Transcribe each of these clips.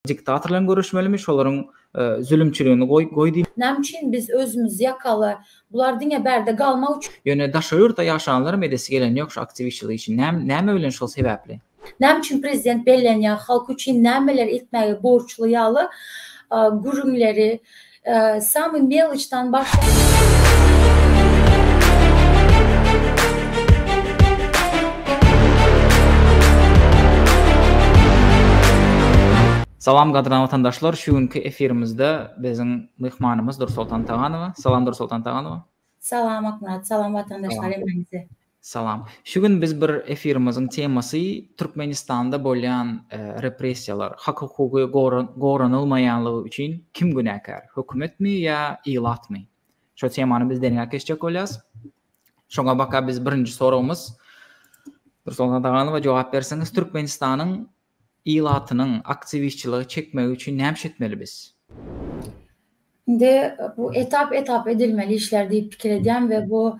Diktatorlaryň göreşmelimi şolaryň zülümçiligini goý goý diýme. Näme üçin biz özümiz ýakaly? Bular diňe bärde galmak üçin. Ýöne daşary ýurtda ýaşaýanlaram edesi gelen ýok şu aktiwistçilik işini näme näme bilen şol sebäpli. Näme üçin prezident bellenýär halk üçin nämeler etmäge borçly ýaly gürrüňleri. Samy melçdan başlap. Salam gadyrdan watandaşlar şu günki efirimizde biziň myhmanymyz Dursoltan Taganowa. Salam Dursoltan Taganowa. Salam Akmyrat, salam watandaşlar hemmäňize. Salam. Şu gün biz bir efirimiziň temasy Türkmenistanda bolýan e, repressiýalar, hak hukugy goranylmaýanlygy üçin kim günäkär? Hökümetmi ýa ilatmy? Şo temany biz derňäp geçjek bolýarys. Şoňa baka biz birinji soragymyz Nursultan Daganowa jogap berseňiz, Türkmenistanyň ilatynyň aktiwistçilige çekmegi üçin nämşe etmeli biz? Indi bu etap etap edilmeli işler diýip pikir edýän we bu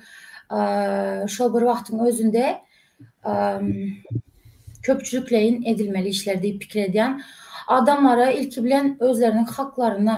şol bir wagtyň özünde köpçülikleýin edilmeli işler diýip pikir edýän. Adamlara ilki bilen özleriniň haklaryny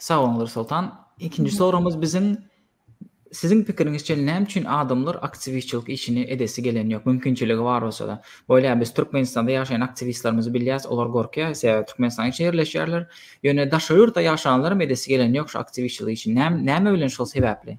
Sag boluň Nursoltan. Ikinji soragymyz biziň Siziň pikiriňizçe näme üçin adamlar aktiwistçilik işini edesi gelen ýok? Mümkinçiligi bar bolsa-da. Bolýa biz Türkmenistanda ýaşaýan aktiwistlerimizi bilýäs, olar gorkýar, sebäbi Türkmenistanyň içine ýerleşýärler. Ýöne daşary ýurtda ýaşanlaram edesi gelen ýok şu aktiwistçilik işini. Näme bilen şol sebäpli?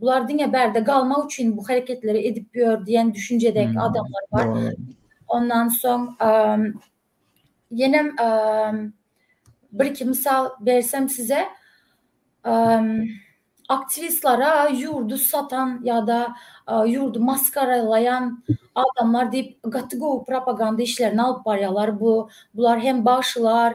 Bular diňe bärde galmak üçin bu hereketleri edip ýör diýen düşünjedäki adamlar bar. Ondan soň ýenem bir iki mysal bersem size aktiwistlara ýurdy satan ýa-da ýurdy maskaralaýan adamlar diýip gaty gowy propaganda işlerini alyp barýarlar. Bu bular hem bagşylar,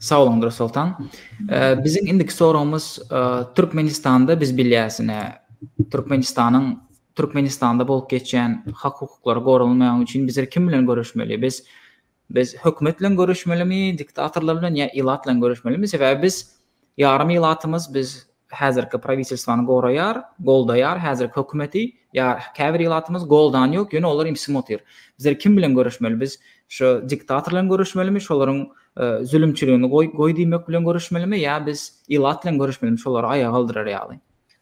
Sag boluň Dursoltan. Biziň indiki soragymyz Türkmenistanda biz bilýäsine Türkmenistanyň Türkmenistanda bolup geçýän hak hukuklary goralmaýan üçin bizler kim bilen görüşmeli? Biz biz hökümet bilen görüşmelimi, diktatorlar bilen ýa ilat bilen görüşmelimi? Sebäbi biz Ýarym ilatymyz biz häzirki prawitelstwany goraýar, goldaýar, häzirki hökümeti, ýa käbir ilatymyz goldan ýok, ýöne olar imsim otyr. Bizler kim bilen görüşmeli? Biz şu diktator bilen görüşmelimi, şolaryň zülümçiligini goý goý diýmek bilen görüşmelimi ýa biz ilat bilen görüşmelimi şolary aýaga galdyrar ýaly?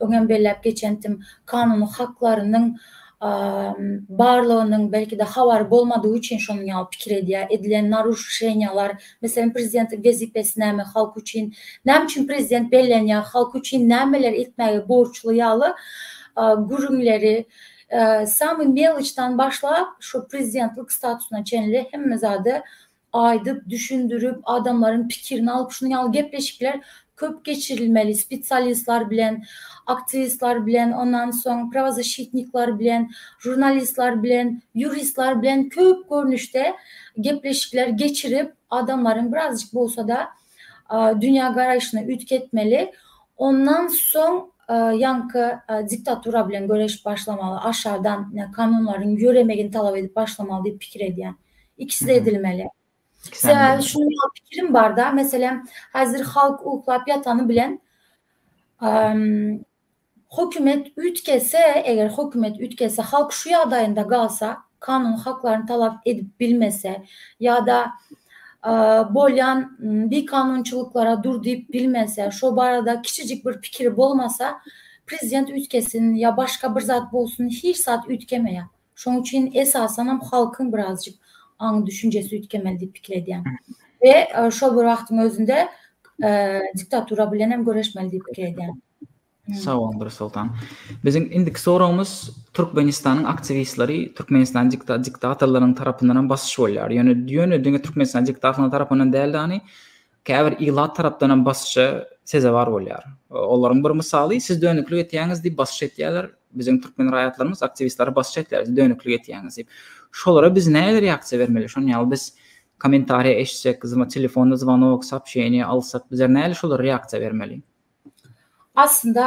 Öňem belläp geçendim, kanuny haklarynyň barlygynyň belki-de habary bolmadygy üçin şonuň ýaly pikir edýär. Edilen naruşeniýalar, meselem, prezidentlik wezipesi näme halk üçin, näme üçin prezident bellenýär, halk üçin nämeler etmäge borçly ýaly gürrüňleri, samy meloçdan başlap, şu prezidentlik statusyna çenli hemme zady aýdyp, düşündirip, adamlaryň pikirini alyp, şunuň ýaly gepleşikler köp geçirilmeli, spesialistler bilen, aktiwistler bilen, ondan soň prawozasşitnikler bilen, žurnalistler bilen, ýuristler bilen köp görnüşde gepleşikler geçirip, adamlaryň birazajyk bolsa-da dünýägaraýşyny üýtgetmeli. Ondan soň ýaňky diktatura bilen göreşip başlamaly, aşakdan kanunlaryň ýöremegini talap edip başlamaly diýip pikir edýän. Ikisi-de edilmeli. Sebäbi şunuň ýaly pikirim bar-da, meselem, häzir halk uklap ýatany bilen, hökümet üýtgese, eger hökümet üýtgese, halk şu ýagdaýynda galsa, kanuny haklaryny talap edip bilmese ýa-da bolýan bikanunçylyklara dur diýip bilmese, şo barada kiçijik bir pikiri bolmasa, prezident üýtgesin ýa başga bir zat bolsun, hiç zat üýtgemeýär. Şoň üçin esasanam halkyň birazjyk aň düşünjesi üýtgemeli diýip pikir edýän. We şol bir wagtyň özünde diktatura bilen hem göreşmeli diýip pikir edýän. Sag boluň Dursoltan. Biziň indiki soragymyz Türkmenistanyň aktiwistleri Türkmenistan diktatorlarynyň tarapyndan hem basyş bolýar. Ýöne ýöne diňe Türkmenistan diktatorlarynyň tarapyndan däl-de, Käbir ilat tarapdan hem basyşa sezewar bolýar. Olaryň bir mysaly, siz dönüklik etýäňiz diýip basyş etýärler, biziň türkmen raýatlarymyz aktiwistlere basyş etýär, siz dönüklik etýäňiz diýip. Şolara biz nähili reaksiýa bermeli? Şony ýaly biz kommentariýa eşitsek, telefon zwanok, soobşeniýa alsak, bizler nähili şolara reaksiýa bermeli? Aslynda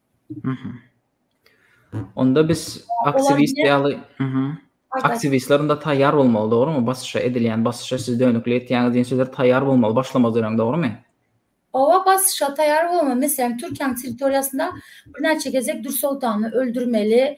Mhm. Onda biz aktiwist ýaly, mhm. Aktiwistler onda taýýar bolmaly, dogrumy? Basyşa edilýän basyşa siz dönükli etýäňiz diýen sözler taýýar bolmaly, başlamaz öňem, dogrumy? Owa, basyşa taýýar bolmaly. Meselem, Türkiýäniň territoriýasynda birnäçe gezek Dürsoltany öldürmeli,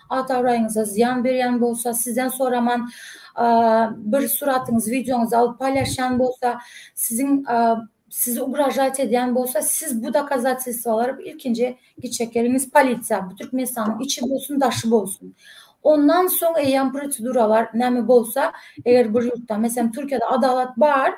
At-abraýyňyza zyýan berýän bolsa, sizden soraman bir suratyňyzy, wideoňyzy alyp paýlaşýan bolsa, siziň sizi ugražaýt edýän bolsa, siz bu dokazatelstwolary ilkinji giçek geliňiz polisiýa, bu Türkmenistanyň içi bolsun, daşy bolsun. Ondan soň eýýäm proseduralar näme bolsa, eger bir ýurtda, meselem, Türkiýede adalat bar,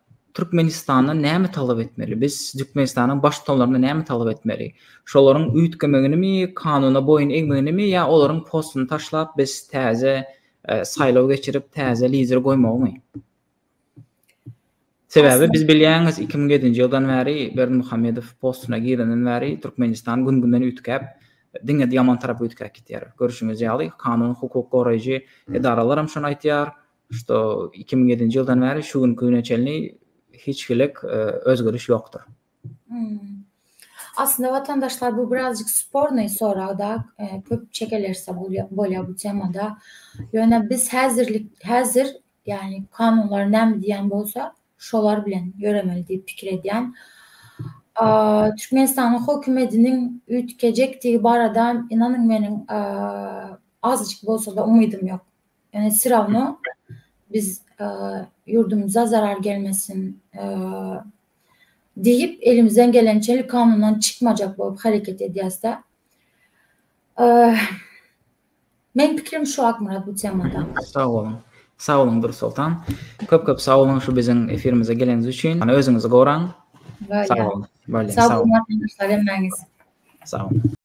Türkmenistandan näme talap etmeli? Biz Türkmenistanyň baştutanlaryndan näme talap etmeli? Şolaryň üýtgemeginimi, kanuna boýun egmeginimi ýa olaryň postuny taşlap, biz täze e, saýlaw geçirip, täze lider goýmagymy? Sebäbi biz bilýäňiz, 2007-nji ýyldan bäri Berdimuhamedow postuna girenden bäri Türkmenistan gün-günden üýtgäp, diňe ýaman tarapa üýtgäp gidýär. Görşüňiz ýaly, kanun hukuk goraýjy edaralaram şony aýtýar, Şu iki müň ýedinji ýyldan bäri şu günki güne çenli hiç hilik özgeriş ýokdur. Aslynda watandaşlar bu birazjyk spornyý soragda köp çekelerse bolýar bu temada. Ýöne biz häzirlik häzir ýagny kanunlar näme diýýän bolsa şolar bilen ýöremeli diýip pikir edýän. Türkmenistanyň hökümetiniň üýtgejekdigi barada ynanyň meniň azajyk bolsada umydym ýok. Ýöne syrawno biz ýurdumyza zarar gelmesin diýip, elimizden gelençe kanundan çykmajak bolup hereket edýäs-de. Meniň pikirim şu Akmyrat bu temada. Sag boluň. Sag boluň Dursoltan. Köp-köp sag boluň şu biziň efirimize geleniňiz üçin. Hany özüňizi goraň. Sag boluň. Sag boluň. Sag boluň.